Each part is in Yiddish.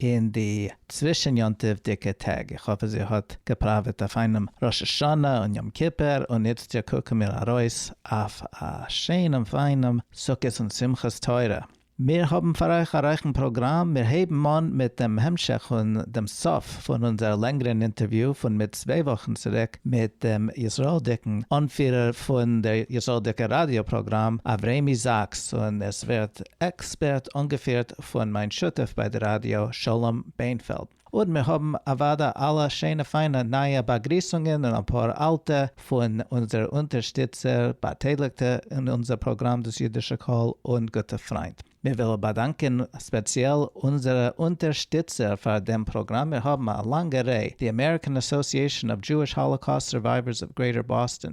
אין די צווישן יום טוב'דיגע טעג, איך האף אז איר האט געפראוועט א פיינעם ראש השנה און יום כיפור, און איצט יא קוקן מיר ארויס אויף א שענעם פיינעם סוכות און שמחת תורה. מיר האבן פאר אייך א רייכן פראגראם, מיר הייבן אן מיט דעם המשך פון דעם סוף פון אונזער לענגערן אינטערוויו פון מיט צוויי וואכן צוריק מיט דעם ישראל'דיגן אנפירער פון דער ישראל'דיגער ראדיא פראגראם אברעמי זאקס, און עס ווערט עקספערט אנגעפירט פון מיין שותף ביי די ראדיא שלום בענפעלד, און מיר האבן אוודאי אלע שענע פיינע נייע באגריסונגען און אפאר אלטע פון אונזער אונטערשטיצער, באטייליגטע אין אונזער פראגראם דאס אידישע קול און גוטע פריינט. מיר ווילן באדאנקען ספעציעל אונזערע אונטערשטיצער פאר דעם פראגראם, מיר האבן א לאנגע ריי, די אמעריקען אסאסיעשאן אוו דזשואיש האלאקאוסט סורווייווערס אוו גרעיטער באסטאן,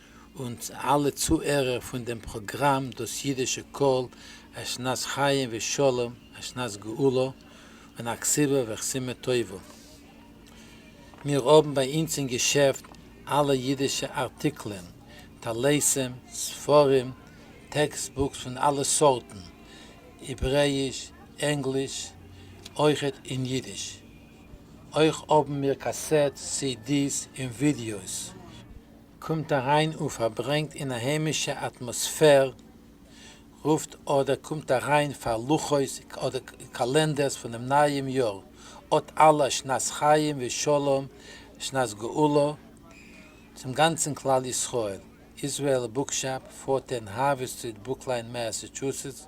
אונז אלע צוהערער פון דעם פראגראם דאס אידישע קול, א שנת חיים ושלום, א שנת גאולה, און א כסלו וחסימה טובה. מיר האבן ביי אונז אין געשעפט אלע אידישע ארטיקלען, טליתים, ספרים, טעקסט בוקס פון אלע סארטן, העברעאיש, ענגליש, אויכעט אין אידיש. אויך האבן מיר קאסעטס, סי די'ס, און ווידיאוס. קומט אריין און פארברענגט אין א היימישע אטמאספער, רופט אדער קומט אריין פאר לוחות אדער קאלענדערס פונעם נייעם יאר, אות אלע שנת חיים ושלום שנת גאולה צום גאנצן כלל ישראל, איזרעאל בוקשאפ, פארטען, הארווי סטריט, ברוקליין, מעסעטשוסעטס,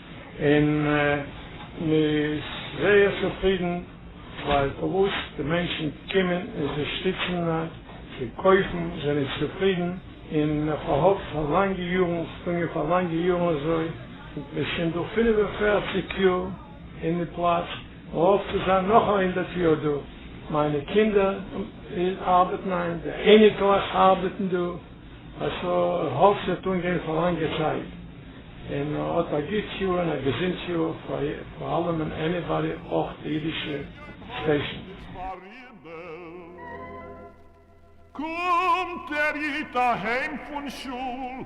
און מען איז זייער צופרידן ווייל פארוואס די מענטשן קומען און זיי שטיצן זיי קויפן זענען צופרידן און מען פארהאט פאר לאנגע יארן שפרינגען פאר לאנגע יארן אזוי מען איז שוין דא פֿינף און פֿערציק יאר אין די פלאץ מען האפט צו זיין נאך א הונדערט יאר דא מיינע קינדער ארבעטן היינט די אייניקלעך ארבעטן דא א ס ה איך האף ס'וועט אנגיין פאר לאנגע צייט. און האט א גוט יאר און א געזונט יאר פאר אלעמען עניבאדי אויך די אידישע סטעישן. קומט דער איד אהיים פון שול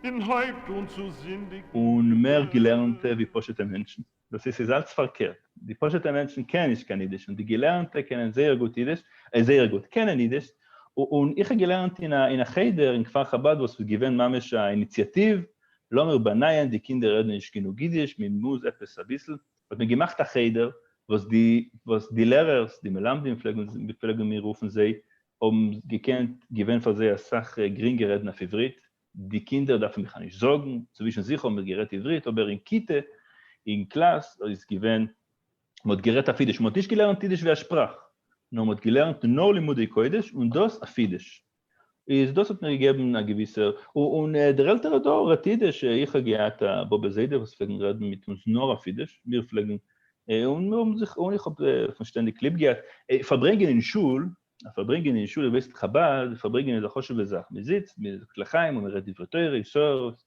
און הויבט אן צו זינדיגן. און מער געלערנטע ווי פשוט'ע מענטשן. דאס איז ס'איז אלץ פארקערט, די פשוט'ע מענטשן קענען נישט קיין אידיש, און די געלערנטע קענען זייער גוט אידיש, אה, זייער גוט, קענען אידיש, און איך האב געלערנט אין א אין א חדר אין כפר חבד וואס איז געווען ממש א איניציאטיוו, לאמיר באנייען, די קינדער רעדן נישט גענוג אידיש, מען מוז עפעס אביסל, האט מען געמאכט א חדר, וואס די וואס די לערערס, די מלמדים פלעגן מיר רופן, זיי האבן געקענט, געווען פאר זיי אסאך גרינגער רעדן אויף עברית, די קינדער דארפן דיך נישט זארגן, צווישן זיך האבן מיר גערעדט עברית, אבער אין כיתה, אין קלאס, איז געווען, מען האט גערעדט אויף אידיש, מען האט נישט געלערנט אידיש ווי א שפראך, נאר מען האט געלערנט נאר לימודי קודש, און דאס אויף אידיש. איז דאס האט מיר געגעבן א געוויסע, און דער עלטערע דור רעדט אידיש, איך האב געהאט א באבע זיידע וואס פלעגן רעדן מיט אונז נאר אויף אידיש, מיר פלעגן, און מיר האבן זיך, און איך האב פון שטענדיג ליב געהאט פארברענגען אין שול, א פארברענגען אין שול ובית חבד, פארברענגען איז א חשוב'ע זאך, מען זיצט, מען זאגט לחיים און מען רעדט דברי תורה, יסורות,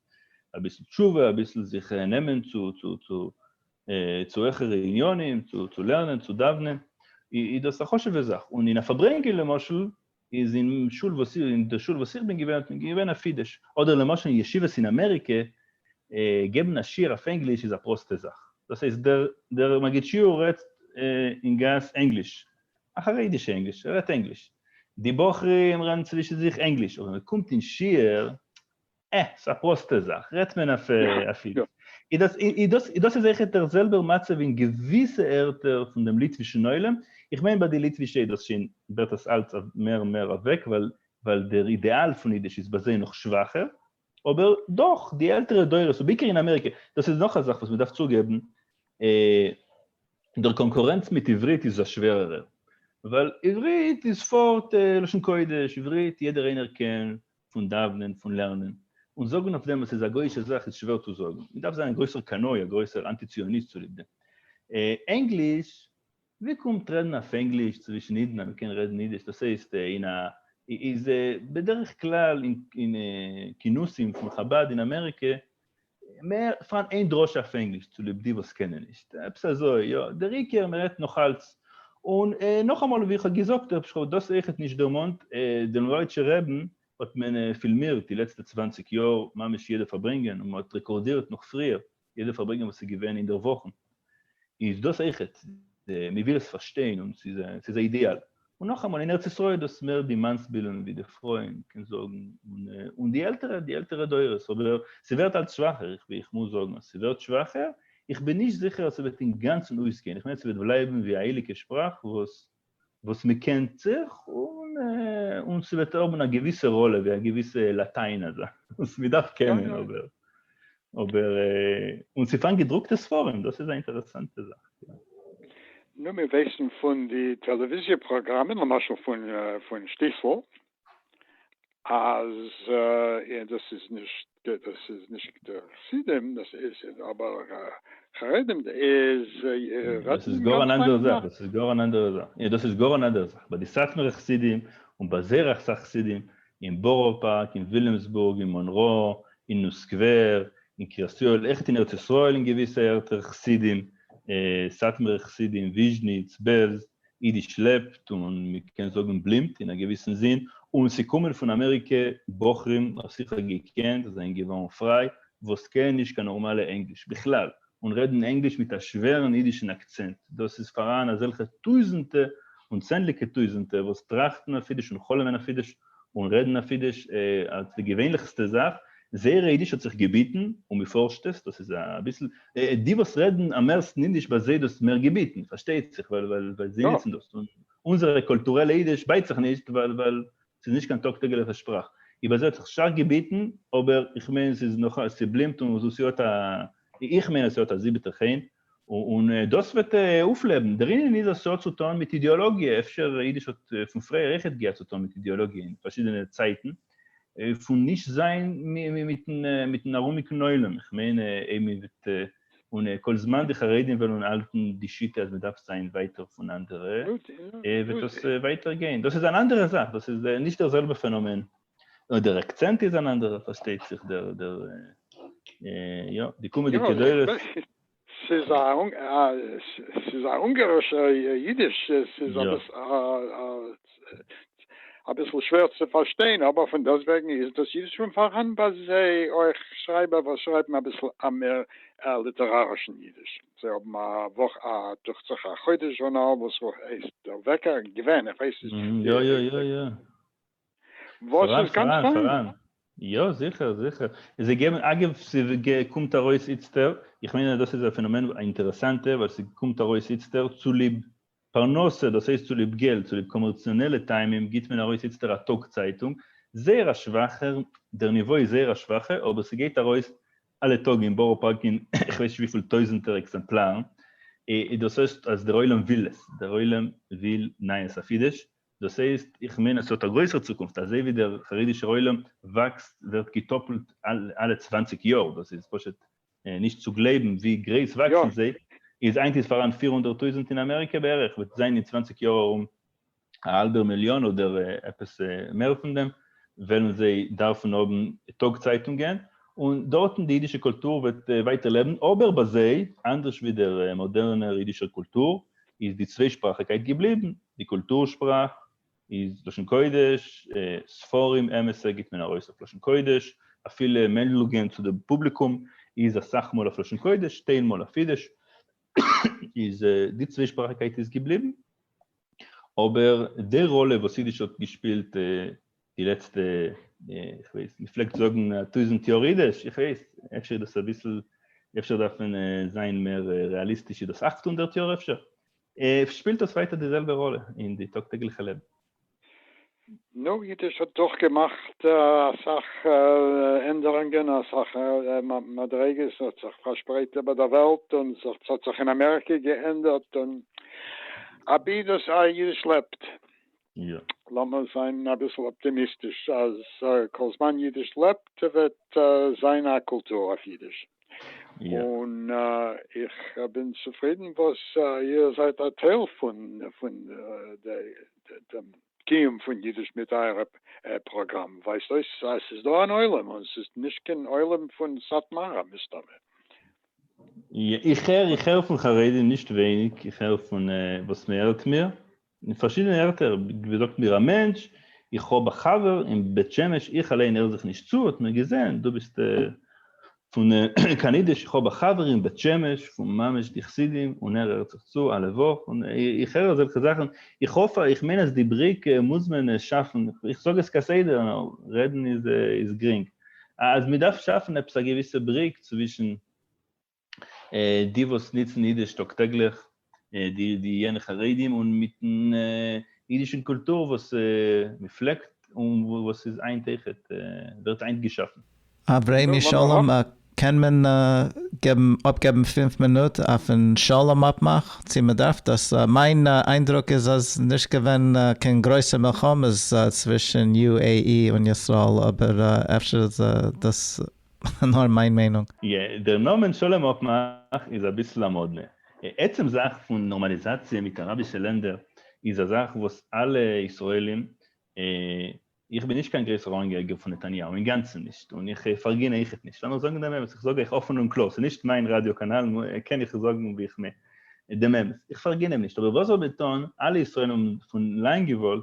אביסל תשובה, אביסל זיך נעמען צו העכערע עניינים, צו לערנען, צו דאווענען, איז דאס א חשוב'ע זאך, און אין א פארברענגען למשל, איז אין שול וואס איך, אין די שול וואס איך בין געווען האט מען געווען א פידש, אדער למשל אין ישיבות אין אמעריקע, געבן א שיעור אויף ענגליש איז א פראסטע זאך, דאס הייסט דער מגיד שיעור רעדט אין גאס ענגליש, א חרדישע ענגליש, ער רעדט ענגליש. די בחורים רעדן צווישן זיך ענגליש, אבער ווען מען קומט אין שיעור, אה, ס'איז א פראסטע זאך, רעדט מען אויף אפי'. און דאס איז אויכעט דער זעלבער מצב אין געוויסע ערטער פון דעם ליטווישן עולם, איך מיין ביי די ליטווישע איז דאס שוין, ווערט עס אלץ מער און מער אוועק, ווייל דער אידעאל פון אידיש איז ביי זיי נאך שוואכער, אבער דאך די עלטערע דורות ובעיקר אין אמעריקע, דאס איז נאך א זאך וואס מ'דארף צוגעבן, דער קאנקורענץ מיט עברית איז א שווערערע, ווייל עברית איז פארט לשון קודש, עברית יעדער איינער קען פון דאוונען, פון לערנען, און זאגן אויף דעם אז ס'איז א גוי'אישע זאך איז שווער צו זאגן, מ'דארף זיין א גרויסער קנאי, א גרויסער אנטי ציוניסט צוליב דעם. ענגליש ווי קומט רעדן אויף ענגליש צווישן אידן אז מען קען רעדן אידיש דאס הייסט אין א איז בדרך כלל אין כינוסים פון חבד אין אמעריקע מער פארהאן איין דרשה אויף ענגליש צוליב די וואס קענען נישט עפעס אזוי יא דער עיקר מען רעדט נאך אלץ און נאכאמאל ווי איך האב געזאגט איך האב דאס אויכעט נישט דערמאנט דעם לויערטשער רעבן האט מען פילמירט די לעצטע צוואנציג יאר ממש יעדע פארברענגען און מען האט רעקארדירט נאך פריער יעדע פארברענגען וואס איז געווען אינדערוואכן איז דאס אויכעט, מען וויל עס פארשטיין און ס'איז א אידעאל. און נאכאמאל אין ארץ ישראל איז דאס מער די מאנסבילן ווי די פרויען קען זאגן, און די עלטערע די עלטערע דורות, אבער ס'ווערט אלץ שוואכער, איך מוז זאגן אז ס'ווערט שוואכער, איך בין נישט זיכער אז ס'וועט אינגאנצן אויסגיין, איך מיין אז ס'וועט בלייבן ווי א הייליגע שפראך וואס וואס מען קענט זיך, און און ס'וועט האבן א געוויסע ראלע, ווי א געוויסע לאטיין אזא, וואס מען דארף קענען, אבער, אבער, און ס'פארן געדרוקטע ספרים, דאס איז א אינטערעסאנטע זאך, יא. נו, מיר ווייסן פון די טעלעוויזיע פראגראמען, למשל פון שטיסל, אז דאס איז נישט דאס איז נישט חסידים דאס איז אבער חרדים איז דאס איז גאר אן אנדערע זאך דאס איז גאר אן אנדערע זאך יא דאס איז גאר אן אנדערע זאך ביי די סאטמארע חסידים און ביי זייער אסאך חסידים אין בארא פארק אין וויליאמסבורג אין מאנרא אין ניו סקווער אין קרית יואל עכט אין ארץ ישראל אין געוויסע ערטער חסידים סאטמארע חסידים וויזשניץ בעלז אידיש לעבט און מ'קען זאגן בלימט אין א געוויסן זין, און ס'קומען פון אמעריקע בחרים האב שיכער געקענט אז זענען געווארן פריי וואס קענען נישט קיין נארמאלע ענגליש בכלל און רעדן ענגליש מיט א שווערן אידישן אקצענט, דאס איז פאראן אזעלכע טויזענטע און צענדליגע טויזענטע וואס טראכטן אויף אידיש און חלומ'ן אויף אידיש, און רעדן אויף אידיש אלס די געווענליכסטע זאך, זייער אידיש האט זיך געביטן, און מ'פארשט עס, דאס איז אביסל, די וואס רעדן אממערסטן אידיש ביי זיי דאס מער געביטן, פארשטייט זיך, ווייל זיי ניצן דאס, און אונזערע קולטורעלע אידיש בייט זיך נישט, ווייל ס'איז נישט קיין טאג טעגליכע שפראך, איבער זיי האט זיך שטארק געביטן, אבער איך מיין ס'איז נאך, ס'בלימט און ס'האט א, איך מיין אז ס'האט א זיבעטע חן, און דאס וועט אויפלעבן. דער ענין איז אז ס'האט צו טון מיט אידעאלאגיע, אפשר אידיש האט פון פריער אויכעט געהאט צו טון מיט אידעאלאגיע אין פארשידענע צייטן, פון נישט זיין מיטן ארומיגן עולם, איך מיין אויב מען וועט, און כל זמן די חרדים וועלן האלטן די שיטה אז מען דארף זיין ווייטער פון אנדערע, וועט דאס ווייטער גיין. דאס איז אן אנדערע זאך, דאס איז נישט דער זעלבע פענאמען. נאר דער אקצענט איז אן אנדערער פארשטייט זיך דער דער יא די קומעדיגע דורות. ס'איז א ס'איז א אונגארישע אידיש ס'איז אביסל שווער צו פארשטיין אבער פון דאס וועגן איז דאס אידיש שוין פארהאן ביי זיי אויך שרייבער וואס שרייבן אביסל א מער ליטערארישן אידיש זיי האבן א וואך א דוכט זיך א חודש זשורנאל וואס הייסט דער וועקער געווען איך ווייס נישט יא יא יא יא. וואס איז גאנץ פיין. יא זיכער זיכער, זיי געבן, אגב ס'קומט ארויס איצטער, איך מיין אז דאס איז א פענאמען א אינטערעסאנטע ווייל ס'קומט ארויס איצטער צוליב פרנסה דאס הייסט צוליב געלט צוליב קאמערציאנעלע טעמים גיט מען ארויס איצטער א טאג צייטונג, זייער א שוואכער, דער ניווא איז זייער א שוואכע אבער ס'גייט ארויס אלע טאג אין בארא פארק אין כ'ווייס נישט וויפיל טויזענטער עקזעמפלארן, דאס הייסט אז דער עולם וויל עס, דער עולם וויל נייעס אויף אידיש, דאס הייסט, איך מיין אז ס'האט א גרויסער צוקונפט, אזוי ווי דער חרדישער עולם וואקסט, ווערט געטאפלט אלע צוואנציג יאר, דאס איז פשוט נישט צו גלייבן ווי גרייס וואקסן זיי, איז היינט איז פאראן פֿיר הונדערט טויזנט אין אמעריקע בערך, וועט זיין אין צוואנציג יאר ארום א האלבער מיליאן אדער עפעס מער פון דעם, וועלן זיי דארפן האבן טאג צייטונגען, און דארטן די אידישע קולטור וועט ווייטער לעבן, אבער ביי זיי, אנדערש ווי דער מאדערנער אידישער קולטור, איז די צוויישפראכיקייט געבליבן, די קולטור שפראך איז לשון קודש, ספרים אמת'ע גיט מען ארויס אויף לשון קודש, אפילו מענדלוגען צו די פובליקום איז אסאך מאל אויף לשון קודש, טיילמאל אויף אידיש, איז די צוויישפראכיקייט איז געבליבן, אבער די ראלע וואס אידיש האט געשפילט די לעצטע, איך ווייס, מען פלעגט זאגן א טויזנט יאר אידיש, איך ווייס, אפשר איז דאס אביסל, אפשר דארף מען זיין מער רעאליסטיש, איז דאס אכט הונדערט יאר אפשר? שפילט דאס ווייטער די זעלבע ראלע אין די טאג טעגליכע לעבן? נו, אידיש האט דאך געמאכט אסאך ענדערונגען, אסאך מדריגות, ס'האט זיך פארשפרייט איבער דער וועלט, און ס'האט זיך אין אמעריקע געענדערט, און אבי דאס אידיש לעבט. לאמיר זיין אביסל אפטימיסטיש אז כל זמן אידיש לעבט וועט זיין א קולטור אויף אידיש, און איך בין צופרידן וואס איר זייט א טייל פון דעם קיום פון אידיש מיט אייער פראגראם, ווייזט אויס אז ס'איז דא אן עולם, און ס'איז נישט קיין עולם פון סאטמארע מסתמא. איך הער פון חרדים נישט ווייניג, איך הער פון וואס מ'ערלט מיר, אין פארשידענע ערטער ווי זאגט מיר א מענטש, איך האב א חבר אין בית שמש איך אליין הער זיך נישט צו האט מיר געזען דו ביסט פון קיין אידיש איך האב א חבר אין בית שמש פון ממש די חסידים און ער הערט זיך צו אלע וואך און איך הער אזעלכע זאכן איך האף איך מיין אז די בריק מוז מען שאפן איך זאג עס כסדר נאר רעדן איז גרינג אז מען דארף שאפן עפעס א געוויסע בריק צווישן די וואס נוצן אידיש טאג טעגליך, די די יענע חרדים, און מיטן אידישן קולטור וואס מען פלעגט און וואס איז היינט אויכעט ווערט היינט געשאפן. אברעמי שלום א קען מען געבן אפגעבן פֿינף מינוט אויפן שלום אפמאך צו מען דארף דאס? מיין איינדרוק איז אז נישט געווען קיין גרויסע מלחמות צווישן יו עי אי און ישראל אבער אפשר איז דאס נאר מיין מיינונג. יא, דער נאמען שלום אפמאך איז אביסל א מאדנע. עצם זאך פון נארמאליזאציע מיט אראבישע לענדער איז א זאך וואס אלע ישראלים, איך בין נישט קיין גרויסער אנגעהעריגער פון נתניהו, אינגאנצן נישט, און איך פארגין אויכעט נישט, לאמיר זאגן דעם אמת, איך זאג אייך אפן און קלאר, ס'איז נישט מיין ראדיא קאנאל, קען איך זאגן ווי איך מיין דעם אמת, איך פארגין אים נישט, אבער וואס זאל מען טון, אלע ישראלים האבן פון לאנג געוואלט,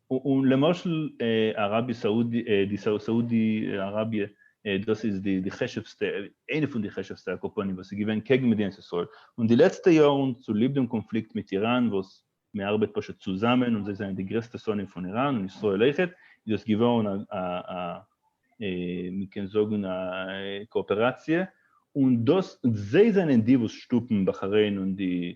און למשל אראביע סאודי די סאודי אראביע דאס איז די די חשובסטע איינע פון די חשובסטע אקופאנטן וואס איז געווען קעגן מדינת ישראל און די לעצטע יארן צוליב דעם קאנפליקט מיט איראן וואס מען ארבעט פשוט צוזאמען און זיי זענען די גרעסטע שונאים פון איראן און ישראל אויכעט איז דאס געווארן א א א מען קען זאגן א קאאפעראציע און דאס זיי זענען די וואס שטופן בחריין און די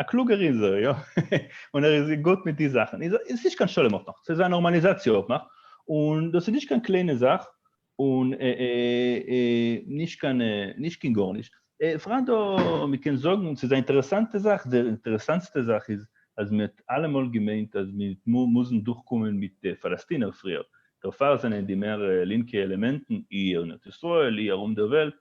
א קלוגער איז ער יא, און ער איז גוט מיט די זאכן, עס איז נישט קיין שלום אפמאך, עס איז א נארמאליזאציע אפמאך, און דאס איז נישט קיין קליינע זאך, און נישט קיין נישט קיין גארנישט, בפרט דא מען קען זאגן ס'איז א אינטערעסאנטע זאך, די אינטערעסאנטסטע זאך איז אז מען האט אלעמאל געמיינט אז מען וועט מוזן דורכקומען מיט די פאלעסטינער פריער, דערפאר זענען די מער לינקע עלעמענטן אי ארון ארץ ישראל אי ארום דער וועלט,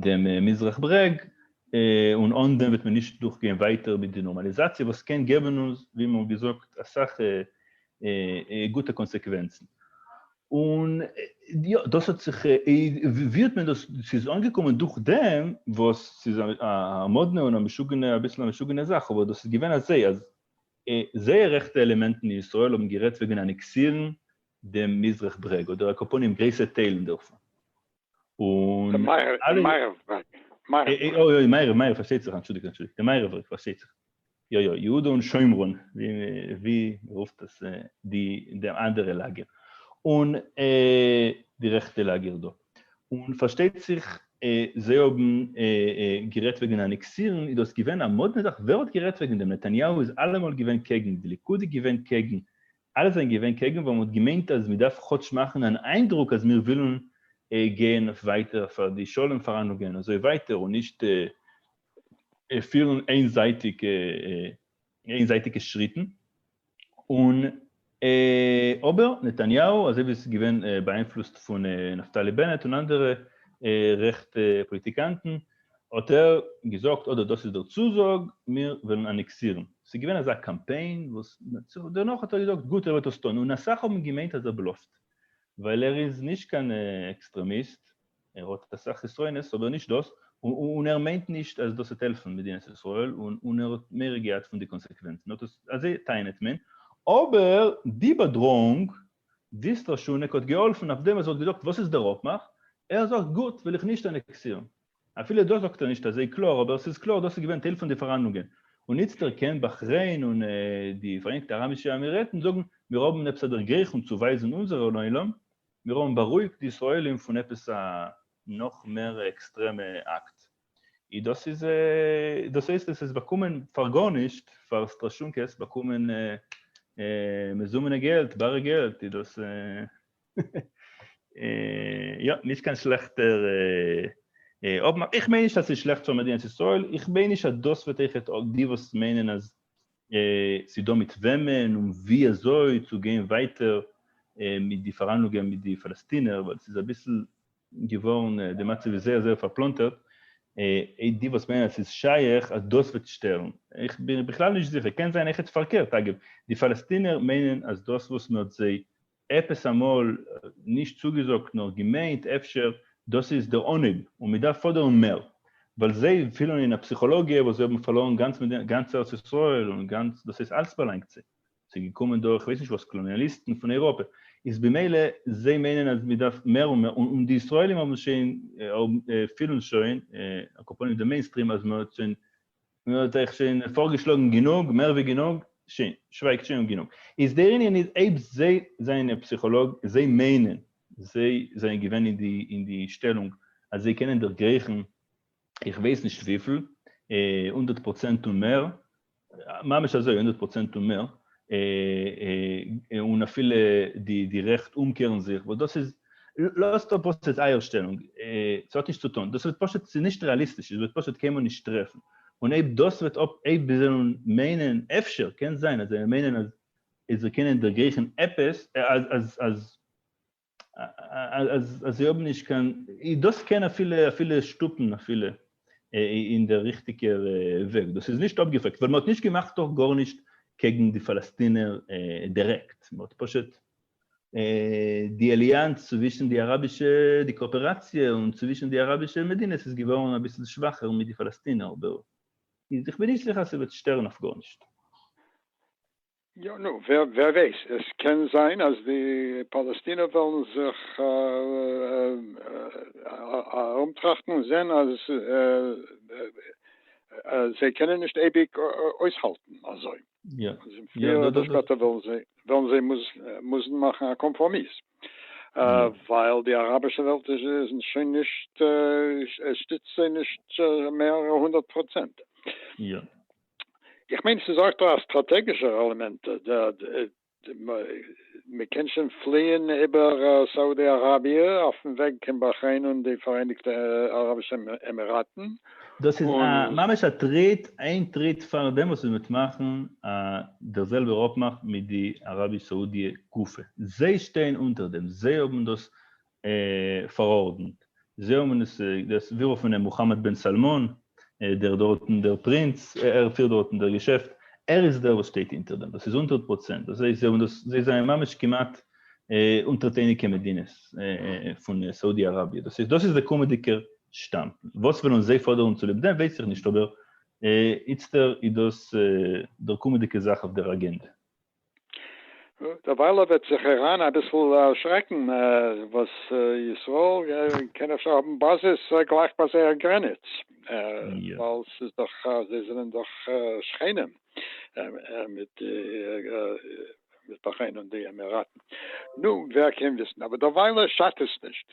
דעם מזרח ברעג, און אן דעם וועט מען נישט דורכגיין ווייטער מיט די נארמאליזאציע וואס קען געבן אונז ווי מ'האט געזאגט אסאך גוטע קאנסעקווענצן. און יא, דאס האט זיך, ווי האט מען דאס, ס'איז אנגעקומען דורך דעם וואס ס'איז א מאדנע און א משוגענע, אביסל א משוגענע זאך, אבער דאס איז געווען אזוי אז זייער רעכטע עלעמענטן אין ישראל האבן גערעדט וועגן אנעקסירן דעם מזרח ברעג, אדער על כל פנים גרויסע טיילן דערפון. און אלע אוי אוי מערב מערב פארשטייט זיך אנטשולדיגט אנטשולדיגט די מערב בריק פארשטייט זיך יא יא יהודה און שומרון ווי רופט עס די די אנדערע לאגער און די רעכטע לאגער דא און פארשטייט זיך זיי האבן גערעדט וועגן אנעקסירן איז דאס געווען א מאדנע זאך ווער האט גערעדט וועגן דעם נתניהו איז אלעמאל געווען קעגן די ליכוד איז געווען קעגן אלע זענען געווען קעגן ווייל מ'האט געמיינט אז מ'דארף כאטש מאכן אן איינדרוק אז מיר ווילן גיין אויף ווייטער פאר די שלום פארהאנדלונגען אזוי ווייטער און נישט פירן איינזייטיגע שריטן און אבער נתניהו אזוי ווי עס איז געווען באאיינפלוסט פון נפתלי בנט און אנדערע רעכטע פאליטיקאנטן האט ער געזאגט אדער דאס איז דער צוזאג מיר וועלן אנעקסירן, ס'איז געווען אזא קאמפיין וואס דערנאך האט ער געזאגט גוט ער וועט עס טון און אסאך האבן געמיינט אז ער בלאפט ווייל ער איז נישט קיין עקסטרעמיסט ער האט אסאך חסרונות אבער נישט דאס און ער מיינט נישט אז דאס וועט העלפן מדינת ישראל און ער האט מער געהאט פון די קאנסעקווענצן אזוי טענה'ט מען אבער די באדראונג דיס לשונק האט געהאלפן אויף דעם ער זאל געזאגט וואס איז דער אפמאך, ער זאגט גוט וויל איך נישט אנעקסירן. אפילו דאס זאגט ער נישט אזוי קלאר אבער ס'איז קלאר דאס איז געווען טייל פון די פארהאנדלונגען און איצט ערקענט באכרעין און די פאראיינגטע אראבישע עמירעטן זאגן מיר האבן עפעס א דערגרייכונג צו ווייזן אונזערע לעולם מיר האבן בארואיגט די ישראלים פון עפעס א נאך מער עקסטרעמע אקט. אי דאס איז דאס הייסט עס איז באקומען פאר גארנישט פאר סטראשונקעס באקומען מזומנע געלט בארע געלט אי דאס יא נישט קיין שלעכטער אויב מ איך מיין נישט אז ס'איז שלעכט פאר מדינת ישראל איך מיין נישט אז דאס וועט אויכעט די וואס מיינען אז ס'דא מיט וועמען און ווי אזוי צו גיין ווייטער מיט די פארהאנלונגען מיט די פאלעסטינער ווייל ס'איז אביסל געווארן די מצב איז זייער זייער פארפלאנטערט, איי די וואס מיינען אז ס'איז שייך אז דאס וועט שטערן, איך בין בכלל נישט זיכער, קען זיין עכט פארקערט, אגב, די פאלעסטינער מיינען אז דאס וואס מען האט זיי עפעס אמאל נישט צוגעזאגט נאר געמיינט אפשר, דאס איז דער אנהויב און מען דארף פאדערן מער, ווייל זיי פילן אין א פסיכאלאגיע וואס זיי האבן פארלוירן גאנץ גאנץ ארץ ישראל און גאנץ דאס איז אלץ באלאנגט זיי. ס'איז געקומען דורך כ'ווייס נישט וואס קלאניאליסטן פון אייראפע, איז במילא זיי מיינען אז מ'דארף מער און מער, און די ישראלים האבן עס שוין, פילן שוין, אקופאניע די מעינסטרים אז מ'האט שוין, מ'האט אייך שוין פארגעשלאגן גענוג, מער ווי גענוג, שוין, שווייגט שוין גענוג. איז דער ענין איז אויב זיי זענען פסיכאלאג, זיי מיינען, זיי זענען געווען אין די שטעלונג אז זיי קענען דערגרייכן איך ווייס נישט וויפיל, הונדערט פראצענט און מער, ממש אזוי הונדערט פראצענט און מער, און אפילו די רעכט אומקערן זיך, וואס דאס איז, לאזט אפ וואס איז אייער שטעלונג, ס'האט נישט צו טון, דאס וועט פשוט, ס'איז נישט רעאליסטיש, עס וועט פשוט קיינמאל נישט טרעפן, און אויב דאס וועט אפ, אויב זיי זאלן מיינען, אפשר, קען זיין אז זיי מיינען אז זיי קענען דערגרייכן עפעס, אז, אז, אז. אז זיי האבן נישט קיין, דאס קען אפילו שטופן אפילו אין דער ריכטיגער וועג, דאס איז נישט אפגעפרעגט, ווייל מען האט נישט געמאכט דאך גארנישט קעגן די פאלעסטינער דירעקט, מען האט פשוט די אליאנץ צווישן די אראבישע, די קאאפעראציע און צווישן די אראבישע מדינות איז געווארן אביסל שוואכער מיט די פאלעסטינער, אבער איך בין נישט זיכער אז ס'וועט שטערן אויף גארנישט. יא נו ווער ווייס עס קען זיין אז די פאלעסטינער וועלן זיך ארומטראכטן און זען אז זיי קענען נישט אייביג אויסהאלטן אזוי און פריער אדער שפעטער וועלן זיי מוזן מאכן א קאמפראמיס ווייל די אראבישע וועלט איז שוין נישט עס שטיצט זיי נישט מער הונדערט פראצענט. איך מיין ס'איז אויך דא א סטראטעגישער עלעמענט, מ'קען שוין פליען איבער סאודי אראביע אויפן וועג קיין באכרעין און די פאראייניגטע אראבישע עמיראטן, דאס איז א און. ממש א טריט, איין טריט פארדעם וואס מען וועט מאכן דער זעלבער אפמאך מיט די אראביש סאודיע גופא, זיי שטייען אונטער דעם, זיי האבן דאס פארארדענט. זיי האבן עס דאס ווירא פון דעם מוכאמעד בן סאלמאן, דער דארטן דער פרינץ, ער פירט דארטן דער געשעפט, ער איז דער וואס שטייט אונטער דעם, דאס איז הונדערט פראצענט, דאס הייסט זיי האבן דאס, זיי זענען ממש כמעט אונטערטעניגע מדינות פון סאודי אראביע, דאס איז דאס איז דער קומעדיגער שטאם, וואס וועלן זיי פאדערן צוליב דעם ווייס איך נישט, אבער איצטער איז דאס דער קומעדיגע זאך אויף דער אגענדע, דערווייל ער וועט זיך איראן אביסל דערשרעקן וואס ישראל קען אפשר האבן באזעס גלייך ביי זייער גרעניץ ווייל ס'איז דאך זיי זענען דאך שכנים מיט מיט באכרעין און די עמיראטן נו ווער קען וויסן אבער דערווייל שאדט עס נישט.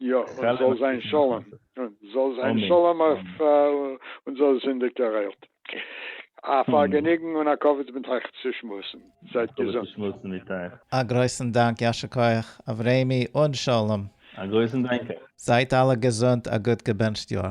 יא, און זאל זיין שלום, און זאל זיין שלום אויף אונז אלע זינדיגער איילת. א פארגעניגן און א כבוד מיט אייך צו שמועסן. זייט געזונט. א גרויסן דאנק, יישר כח, אברעמי און שלום. א גרויסן דאנק אייך. זייט אלע געזונט, א גוט געבענטשט יאר.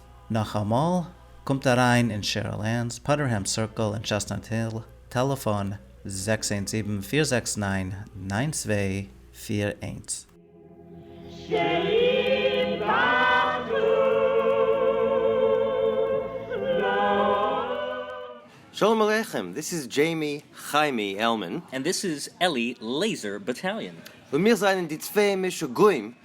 נאכאמאל, קומט אריין אין שעריל ענס פאדערהעם סירקל אין טשעסטנאט היל, טעלעפאן, זעקס איינס זיבן פיר זעקס נײַן נײַן צוויי פֿיר איינס. שערים פתחו לו. שלום עליכם, דיס איז דזשעימי חיימי עלמען. און דיס איז עלי לעיזער באטאליאן. און מיר זענען די צוויי משוגעים.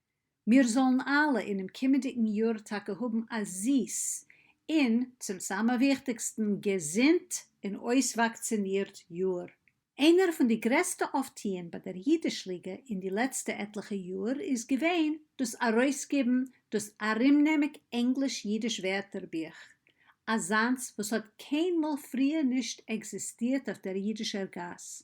מיר זאלן אלע אינעם קומענדיגן יאר טאקע האבן א זיס, און, צום סאמע וויכטיגסטן, געזונט און אויסוואקצינירט יאר. איינער פון די גרעסטע אויפטוען ביי דער אידיש ליגע אין די לעצטע עטליכע יאר איז געווען דאס ארויסגעבן דאס ארומנעמיק ענגליש-אידיש ווערטערבוך, אזאנס וואס האט קיינמאל פריער נישט עקזיסטירט אויף דער אידישער גאס,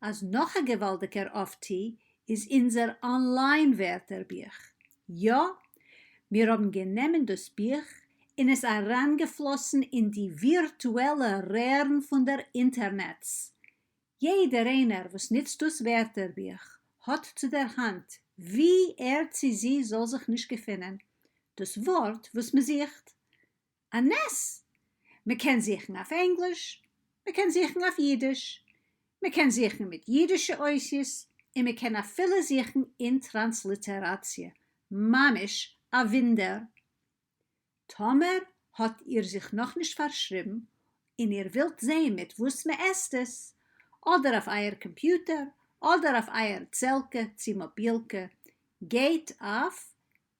אז נאך א געוואלדיגער אפטי איז אונזער אנליין ווערטער בוך, יא! מיר האבן גענעמען דאס בוך און עס אריינגעפלאסן אין די ווירטועלע רערן פון דער אינטערנעץ! יעדער איינער וואס נוצט דאס ווערטער בוך האט צו דער האנט, ווי ער צי זי זאל זיך נישט געפינען, דאס ווארט וואס מען זוכט. א נס! מען קען זוכן אויף ענגליש, מען קען זוכן אויף אידיש, מען קען זוכן מיט אידישע אותיות, און מען קען אפילו זוכן אין טראנסליטעראציע, ממש א ווינדער! טאמער האט איר זיך נאכנישט פארשריבן און איר ווילט זעהן מיט וואס מען עסט עס, אדער אויף אייער קאמפיוטער אדער אויף אייער צעלקע צי מאבילקע, גייט אויף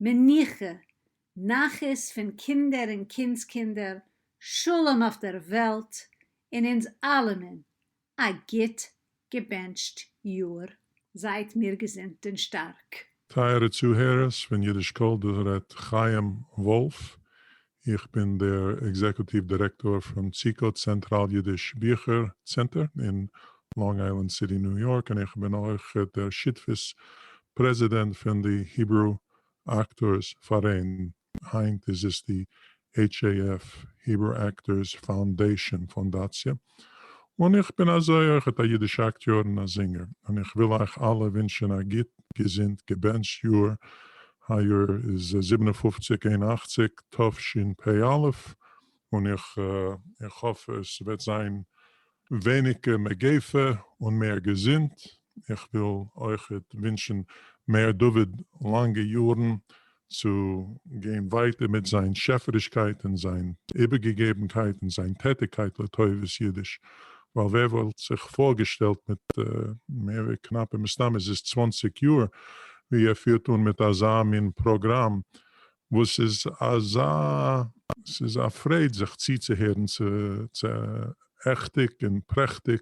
מנוחה, נחת פון קינדער און קינדסקינדער, שלום אויף דער וועלט און אונז אלעמען, א גוט געבענטשט יאר. זייט מיר געזונט און שטארק. טייערע צוהערערס פון אידיש קול דא רעדט חיים וואלף, איך בין דער עקזעקוטיוו דירעקטאר פון ציקא צענטראל אידיש ביכער צענטער אין לאנג איילענד סיטי ניו יארק און איך בין אויך דער שותפות פרעזידענט פון די היברו אקטארס פאראיין, היינט איז עס די HAF, Hebrew Actors Foundation, פאנדאציע, און איך בין אזוי אויכעט א אידישע אקטיאר און א זינגער, און איך וויל אייך אלע ווינטשען א גוט געזונט געבענטשט יאר היי-יאר איז זיבן און פֿופֿציק אין אַכציק תשפ א, און איך איך האף עס וועט זיין ווייניגער מגיפה און מער געזונט, איך וויל אויכעט ווינטשן מר. דוד לאנגע יארן צו גיין ווייטער מיט זיין שעפערישקייט און זיין איבערגעגעבנקייט און זיין טעטיגקייט לטובת אידיש, ווייל ווער וואלט זיך פארגעשטעלט מיט מער ווי קנאפע מסתם איז עס צוואַנציק יאר ווי ער פירט אן מיט אזא מין פראגראם וואס איז אזא ס'איז א פרייד זיך צוצוהערן צו צו עכטיג און פרעכטיג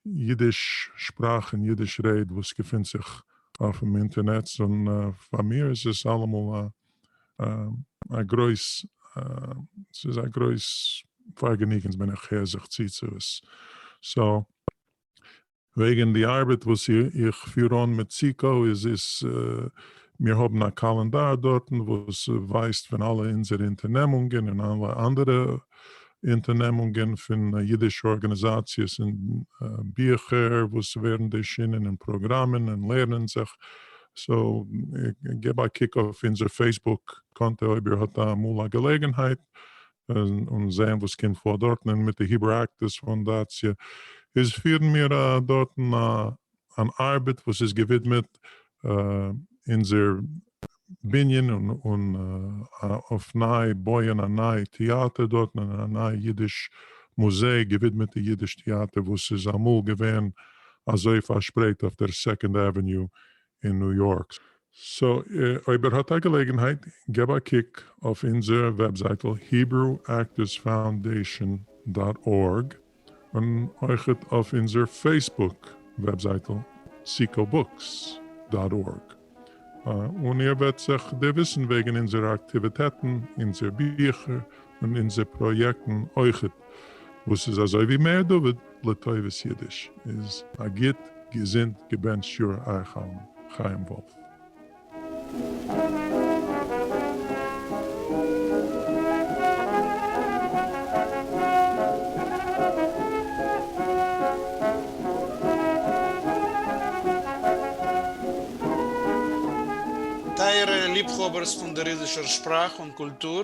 אידיש שפראך און אידיש רעד וואס געפינט זיך אויפן אינטערנעץ און פאר מיר איז עס אלעמאל א א גרויס ס'איז א גרויס פארגעניגען ווען איך הער זיך צו צו עס סאו וועגן די ארבעט וואס איך פיר אן מיט סיקא איז עס, מיר האבן א קאלענדאר דארטן וואס ווייזט פון אלע אונזערע אונטערנעמונגען און אלע אנדערע אונטערנעמונגען פון אידישע ארגאניזאציעס און ביכער וואס ווערן ערשינען און פראגראמען און לערנען זיך, סאו געב א קוק אויף אונזער פעיסבוק קאנטע אויב איר האט אמאל א געלעגנהייט, און זעהן וואס קומט פאר דארטן און מיט די היברו אקטערס פאונדאציע איז פירן מיר דארטן אן ארבעט וואס איז געווידמעט אונזער בנין און אויף ניי בויען א ניי טעאטער דארטן און א ניי אידיש מוזיי געווידמעט די אידיש טעאטער וואס איז אמאל געווען אזוי פארשפרייט אויף דער סעקאנד עוועניו אין ניו יארק. סאו אויב ער האט א געלעגנהייט געב א קוק אויף אונזער וועבזייטל היברו אקטערס פאונדעישאן דאט ארג און אויכעט אויף אונזער פעיסבוק וועבזייטל סיקא בוקס דאט ארג און איר וועט זיך דערוויסן וועגן אונזערע אקטיוויטעטן אונזער ביכער און אונזער פראיעקטן אויכעט, וואס איז אזוי ווי מאיר דוד לטובת אידיש איז א גוט געזונט געבענטשט יאר אייך אלן. חיים וואלף. טייערע ליבהאבערס פון דער אידישער שפראך און קולטור.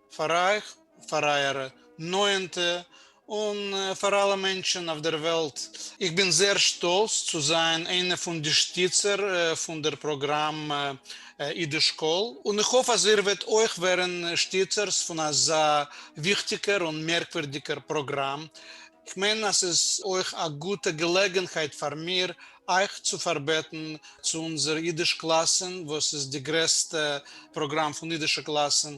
פאר אייך, פאר אייערע נאענטע, און פאר אלע מענטשן אויף דער וועלט. איך בין זייער שטאלץ צו זיין איינע פון די שטיצער פון דער פראגראם אידיש קול, און איך האף אז איר וועט אויך ווערן שטיצערס פון אזא וויכטיגער און מערקווירדיגער פראגראם. איך מיין אז ס'איז אויך א גוטע געלעגנהייט פאר מיר אייך צו פארבעטן צו אונזער אידיש קלאסן, וואס איז די גרעסטע פראגראם פון אידישע קלאסן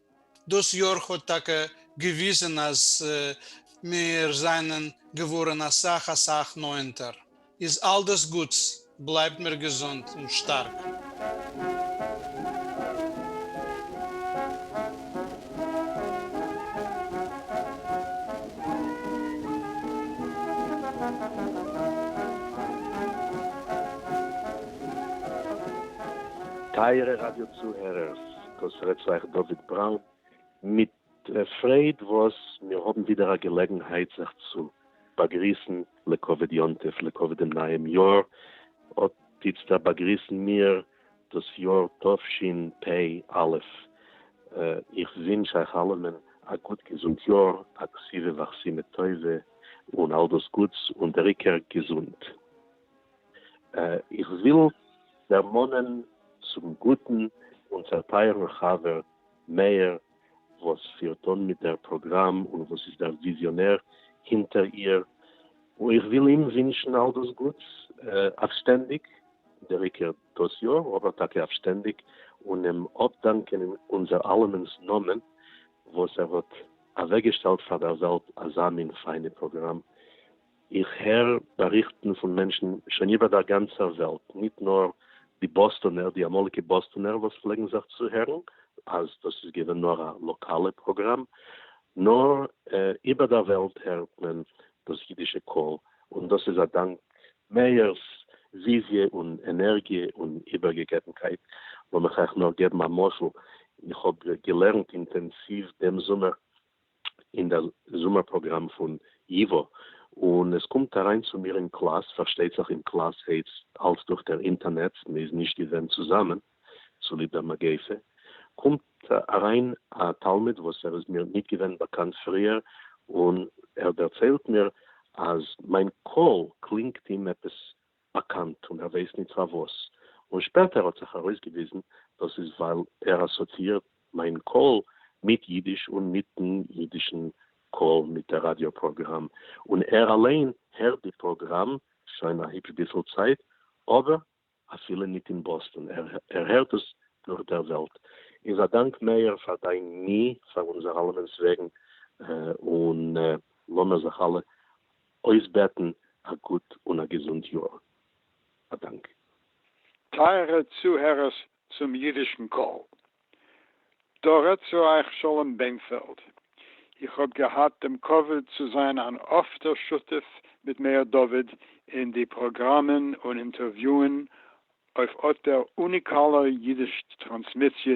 דאס יאר האט טאקע געוויזען אז מיר זענען געווארען אסאך אסאך נאענטער, איז אלדאס גוטס, בלייבט מיר געזונט און שטארק. טייערע ראדיא צוהערערס, דאס רעדט צו אייך דוד בראון מיט פרייד וואס מיר האבן ווידער א געלעגנהייט זיך צו באגריסן לכבוד יום טוב לכבוד דעם נייעם יאר, אט איצטער באגריסן מיר דאס יאר תשפ א, איך ווינטש אייך אלעמען א גוט געזונט יאר, א כסיווע ואכסימא טובה, און אלדאס גוטס, און דער עיקר געזונט. איך וויל דערמאנען צום גוטן אונזער טייערן חבר מאיר וואס פירט אן מיט דער פראגראם און וואס איז דער וויזיאנער הינטער איר, איך וויל אים ווינטשן אל דאס גוטס אויף שטענדיג, דער עיקר דאס יאר, אבער טאקע אויף שטענדיג, און אים אפדאנקען אין אונזער אלעמענס נאמען וואס ער האט אוועקגעשטעלט פאר דער וועלט אזא מין פיינע פראגראם איך הער באריכטן פון מענטשן שוין איבער דער גאנצער וועלט, ניט נאר די באסטאנער, די אמאליגע באסטאנער וואס פלעגן זיך צוהערן, אז דאס איז געווען נאר א לאקאלע פראגראם, נאר איבער דער וועלט הערט מען דאס אידישע קול, און דאס איז א דאנק מאיר'ס וויזיע און ענערגיע און איבערגעגעבנקייט. לאמיך אייך נאר געבן א משל, איך האב געלערנט אינטענסיוו דעם זומער אין דער זומער פראגראם פון ייווא, און עס קומט אריין צו מיר אין קלאס, פארשטייט זיך אין קלאס העץ אלס דורך דער אינטערנעץ, מען איז נישט געווען צוזאמען צוליב דער מגיפה, קומט אריין א תלמיד וואס ער איז מיר ניט געווען באקאנט פריער, און ער דערציילט מיר אז מיין קול קלינגט אים עפעס באקאנט און ער ווייסט ניט פארוואס, און שפעטער האט זיך ארויסגעוויזן דאס איז ווייל ער אסאציאירט מיין קול מיט יידיש און מיטן יידישן קול מיט דער ראדיא פראגראם, און ער אליין הערט די פראגראם שוין א היפש ביסל צייט אבער אפילו ניט אין באסטאן ער הערט עס דורך דער וועלט, איז א דאנק מאיר פאר דיין מי פאר אונזער אלעמענס וועגן און לאמיר זיך אלע אויסבעטן א גוט און א געזונט יאר. א דאנק. טייערע צוהערערס צום אידישן קול, דא רעדט צו אייך שלום בענפעלד. איך האב געהאט דעם כבוד צו זיין אן אפטער שותף מיט מאיר דוד אין די פראגראמען און אינטערוויוען אויף אט דער אוניקאלער אידיש טראנסמיסיע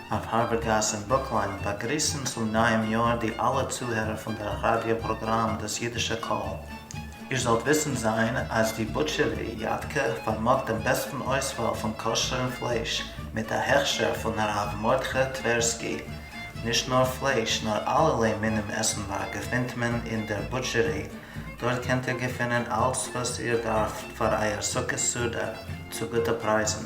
אויף הארבער גאס אין ברוקלין באגריסן צום נייעם יאר די אלע צוהערער פון דער ראדיא פראגראם דאס אידישע קול. איר זאלט וויסן זיין אז די בוטשערי יאטקע פארמאגט דעם בעסטן אויסוואל פון כשר'ן פלייש מיט א הכשר פון הרב מרדכי טווערסקי. נישט נאר פלייש נאר אלערליי מינים עסנווארג געפינט מען אין דער בוטשערי, דארט קענט איר געפינען אלץ וואס איר דארפט פאר אייער סוכות סעודה צו גוטע פרייזן.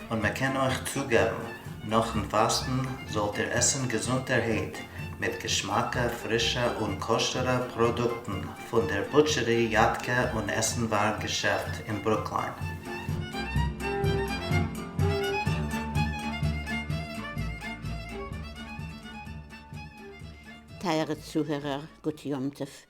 און מען קען אויך צוגעבן, נאכן פאסטן זאלט איר עסן געזונטערהייט, מיט געשמאקע, פרישע און כשר'ע פראדוקטן פון דער בוטשערי יאטקע און עסנווארג געשעפט אין ברוקליין. טייערע צוהערער, גוט יום טוב!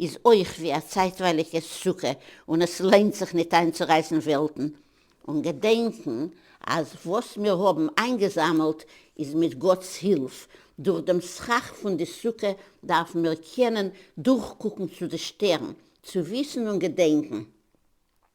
איז אויך ווי א צייטווייליגע סוכה און עס ליינט זיך ניט איינצורייסן וועלטן און געדענקן אז וואס מיר האבן איינגעזאמלט איז מיט גאטס הילף דורך דעם סכך פון די סוכה דארפן מיר קענען דורכקוקן צו די שטערן צו וויסן און געדענקן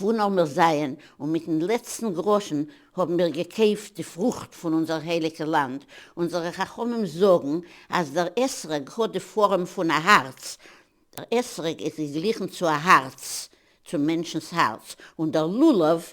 וואו נאר מיר זעען, און מיטן לעצטן גראשן האבן מיר געקויפט די פרוכט פון אונזער הייליגע לאנד, אונזערע חכמים זאגן אז דער אתרוג האט די פארעם פון א הארץ, דער אתרוג איז געגליכן צו א הארץ, צום מענטשנ'ס הארץ, און דער לולב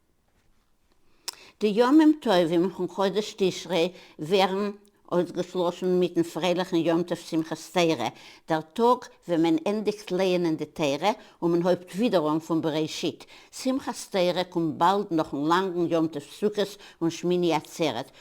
די ימים טובים פון חודש תשרי ווערן אויסגעשלאסן מיטן פרייליכן יום טוב שמחת תורה, דער טאג ווען מען ענדיגט לייענען די תורה און מען הויבט ווידער אן פון בראשית. שמחת תורה קומט באלד נאכן לאנגן יום טוב סוכות און שמיני עצרת,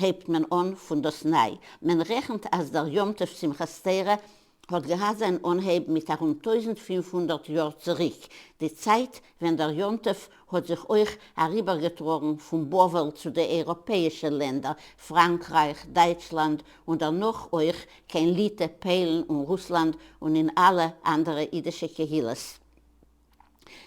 הייבט מען אן פון דאס ניי, מען רעכנט אז דער יום טוב שמחת תורה האט געהאט זיין אנהייב מיט ארום טויזנט פֿינף הונדערט יאר צוריק, די צייט ווען דער יום טוב האט זיך אויך אריבערגעטראגן פון בבל צו די אייראפעאישע לענדער, פראנקרייך, דייטשלאנד, און דערנאך אויך קיין ליטע, פאלן און רוסלאנד און אין אלע אנדערע אידישע קהילות.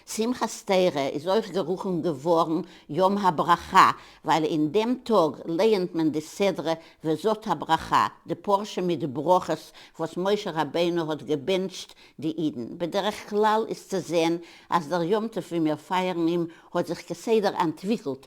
שמחת תורה איז אויך גערופן געווארן יום הברכה ווייל אין דעם טאג לייענט מען די סדרה וזאת הברכה די פרשה מיט ברכות וואס משה רבינו האט געבענטשט די אידן, בדרך כלל איז צו זען אז דער יום טוב ווי מיר פייערן אים האט זיך כסדר אנטוויקלט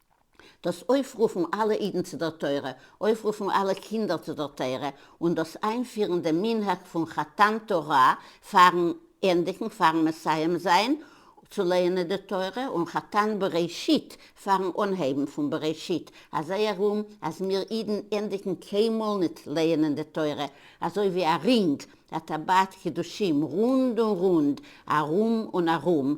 דאס אויפרופן אלע אידן צו דער תורה, אויפרופן אלע קינדער צו דער תורה, און דאס איינפירן דעם מנהג פון חתן תורה פארן ענדיגן, פארן מסיים זיין צו לערנען די תורה, און חתן בראשית פארן אנהייבן פון בראשית, אזוי ארום אז מיר אידן ענדיגן קיינמאל ניט לערנען די תורה, אזוי ווי א רינג, א טבעת קידושים, רונד און רונד, ארום און ארום,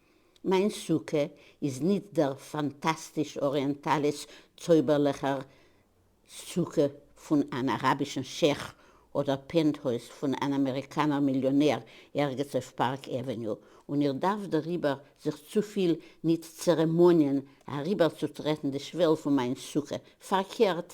מיין סוכה איז ניט דער פאנטאסטיש-אריענטאליש צויבערלעכער סוכה פון אן אראבישן שעך אדער פענטהויז פון אן אמעריקאנער מיליאנער ערגעץ אויף פארק עוועניו, און איך דארף דעריבער זיך צופיל ניט צערעמאניען אריבערצוטרעטן די שוועל פון מיין סוכה. פארקערט.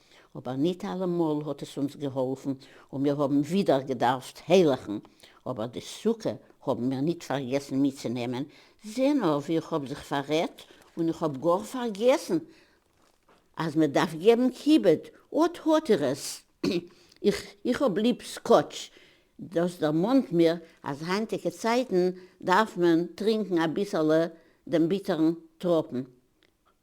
אבער ניט אלעמאל האט עס אונז געהאלפן און מיר האבן ווידער געדארפט העלעכן, אבער די סוכה האבן מיר ניט פארגעסן מיטצונעמען, זע נאר ווי איך האב זיך פאררעדט און איך האב גאר פארגעסן אז מען דארף געבן כיבוד, אט האט איר עס, איך איך האב ליב סקאטש, דאס דערמאנט מיר אז היינטיגע צייטן דארף מען טרינקן אביסעלע דעם ביטערן טראפן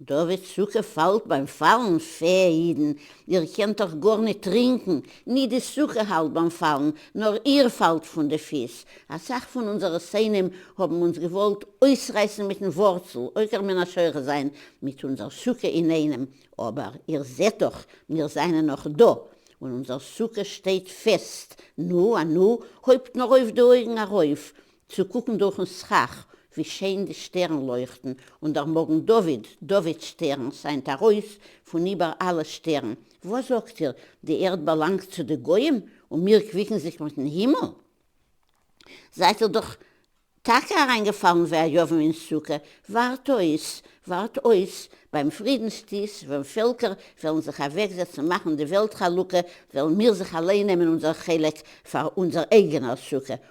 דוד סוכה פאלט ביים פאלן, פע אידן איר קענט דאך גארניט טרינקן, ניט די סוכה האלט ביים פאלן, נאר איר פאלט פון די פיס, אסאך פון אונזערע שונאים האבן אונז געוואלט אויסרייסן מיטן ווארצל, עוקר מן השורש זיין מיט אונזער סוכה אינאיינעם, אבער איר זעט דאך מיר זיינען נאך דא, און אונזער סוכה שטייט פעסט, נו אנו, הויבט נאר אויף די אויגן ארויף, צו קוקן דורכן סכך ווי שיין די שטערן לויכטן, און דער מגן דוד, דוד שטערן, שיינט ארויס פון איבער אלע שטערן, וואס זאגט איר, די ערד באלאנגט צו די גוים און מיר קוויקן זיך מיטן הימל? זייט איר דאך טאקע אריינגעפאלן ווי א יוון אין סוכה, ווארט אויס, ווארט אויס, ביים פרידנס טיש, ווען פעלקער וועלן זיך אוועקזעצן מאכן די וועלט חלוקה, וועלן מיר זיך אליין נעמען אונזער חלק פאר אונזער אייגענער סוכה,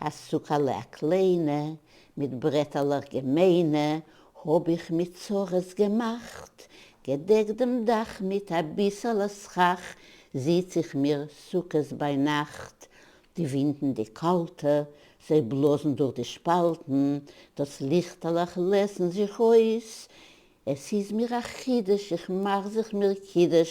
הסוכה לאה קליינע, מיט ברעטעלעך געמיינע, האָב איך מיט צרות געמאַכט, געדעקט דעם דאַך מיט אַ ביסעלע סכך, זיץ איך מיר סוכּות בײַ נאַכט, די ווינטן די קאַלטע, זיי בלאָזן דורך די שפּאַלטן, דאָס ליכטעלעך לעשן זיך אויס, עס איז מיר אַ חידוש, איך מאַך זיך מיר קידוש,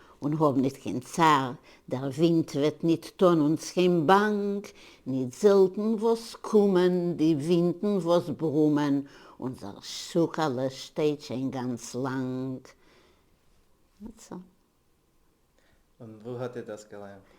און האָב ניט קײן צאַר, דער װינט װעט ניט טאָן אונדז קײן באַנג, ניט זעלטן װאָס קומען די װינטן װאָס ברומען, אונדזער סוכּהלע שטײט שױן גאַנץ לאַנג. און װוּ האָט איר דאָס געלערנט?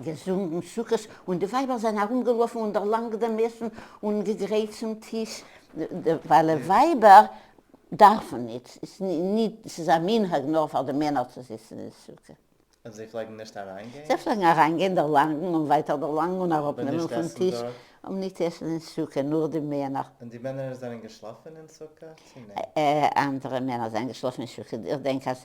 געזונגן סוכות און די ווייבער זענען ארומגעלאפן און דערלאנגט דעם עסן און געגרייט צום טיש ווייל ווייבער דארפן ניט, ס'איז א מנהג נאר פאר די מענער צו זיצן אין סוכה. און זיי פלעגן נישט אריינגיין? זיי פלעגן אריינגיין, דערלאנגן און ווייטער דערלאנגן און אראפנעמען פון טיש, אבער ניט עסן דארט, אבער ניט עסן אין סוכה, נאר די מענער. און די מענער זענען געשלאפן אין סוכה צו ניט? אנדערע מענער זענען געשלאפן אין סוכה, איך דענק אז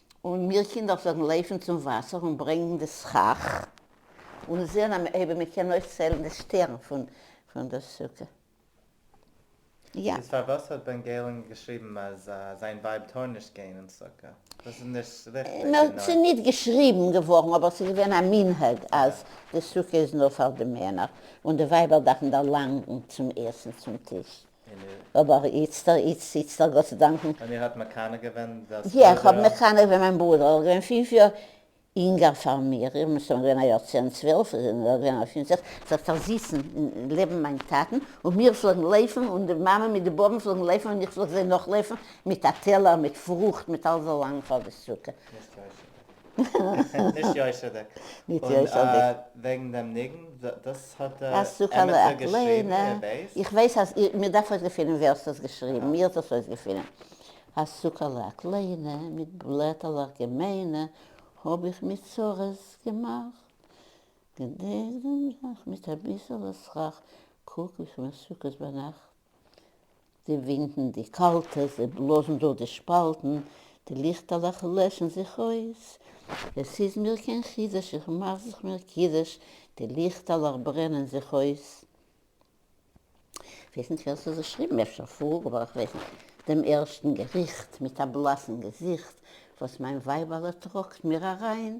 און מיר קינדער פלעגן לויפן צום וואסער און ברענגן די סכך, און זען אויב מען קען אויסציילן די שטערן פון דער סוכה. יא. איז פארוואס האט בן געלן געשריבן אז זיין ווייב טאר נישט גיין אין סוכה? דאס איז נישט ריכטיג. נאר ס'איז נישט געשריבן געווארן, אבער ס'איז געווען א מנהג אז די סוכה איז נאר פאר די מענער, און די ווייבער דארפן דערלאנגן צום עסן צום טיש. אבער איצטער איצט איצטער גאט צו דאנקען. און איר האט מקנא געווען דאס בודער? יא איך האב מקנא געווען מיין ברודער ער איז געווען פֿינף יאר אינגער פאר מיר איך בין סתם געווען א יאר צען צוועלף איז ער נאר געווען א פֿינף זעקס זאגט ער זיצן לעבן מיין טאטן און מיר פלעגן לויפן און די מאמע מיט די בובן פלעגן לויפן און איך פלעג זיי נאכלויפן מיט א טעלער מיט פרוכט מיט אלזא לאנג פאר די סוכה. נישט יושר'דיג. נישט יושר'דיג. און וועגן דעם ניגון, דאס האט דער עמיצער געשריבן, ער ווייסט? איך ווייס אז, מען דארף אויסגעפינען ווער ס'האט עס געשריבן, מי האט דאס אויסגעפינען. א סוכה'לע א קליינע, מיט בלעטעלעך געמיינע, האב איך מיט צרות געמאכט. געדענק דעם נאך מיט אביסעלע סכך, קוק ווי ס'מסוכות ביינאכט. די ווינטן די קאלטע, זיי בלאזן דורך די שפאלטן, די ליכטעלעך לעשן זיך אויס, עס איז מיר קיין חידוש, איך מאך זיך מיר קידוש, די ליכטעלעך ברענען זיך אויס. כ'ווייס נישט ווער ס'האט געשריבן, אפשר פרעה, אבער כ'ווייס נישט. דעם ערשטן געריכט, מיט א בלאסן געזיכט, וואס מיין ווייבעלע טראגט מיר אריין,